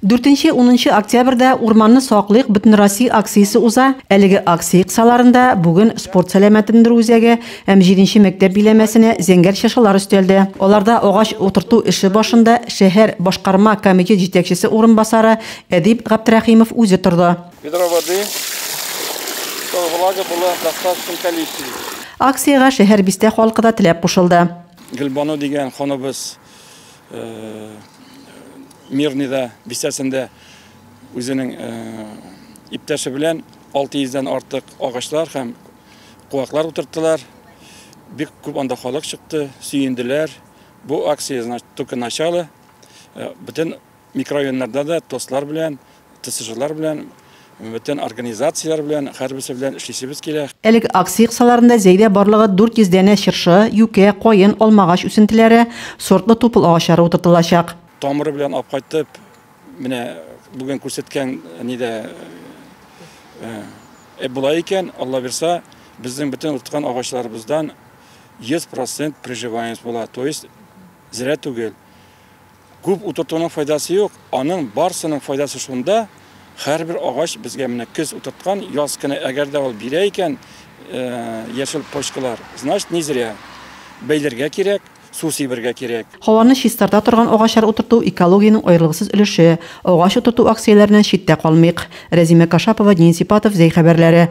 Дүртенче-унынчы октябрьдә Урманны саклыйк бөтенроссия акциясе уза. Әлеге акция кысаларында бүген спорт сәламәтләндерү үзәге һәм җиденче мәктәп биләмәсенә зәңгәр чыршылар өстәлде. Аларда агач утырту эше башында шәһәр башкарма комитет җитәкчесе урынбасары Әдип Габдрәхимов үзе торды. Ведро воды, чтобы влага была в достаточном количестве. Акциягә шәһәр-бистә халкы да теләк кушылды. Гөлбану дигән ханыбыз Мирныйда бистәсендә үзенең иптәше белән 600 дән артык агачлар һәм куаклар утырттылар. Бик күп анда халык чыкты, сөенделәр. Бу акция, значит, только начало. Бөтен микрорайоннарда да тослар белән ТСЖлар белән, бөтен организацияләр белән, һәрберсе белән эшлисебез килә. Әлеге акция кысаларында Зәйдә барлыгы 400 дәнә чыршы, юкә, каен, алмагач үсентеләре, сортлы тупыл агачлары утыртылачак. Тамыры белән алып кайтып, менә бүген күрсәткән нидә эп була икән, Аллабирса, безнең бөтен утырткан агачларыбыздан 100 процент приживаемость була, то есть зря түгел. Күп утыртуның файдасы юк, аның барсының файдасы шунда, хәрбер агач безгә менә көз утырткан, яз көне әгәр дә ул бирә икән яшел почкалар, значит не зря. Бәйләргә кирәк, су сибергә кирәк. Һаваны чистарта торган агачлар утырту экологиянең аерылгысыз өлеше. Агач утырту акцияләреннән читтә калмыйк. Рәзимә Кашапова, Дин Сипатов, Зәй хәбәрләре.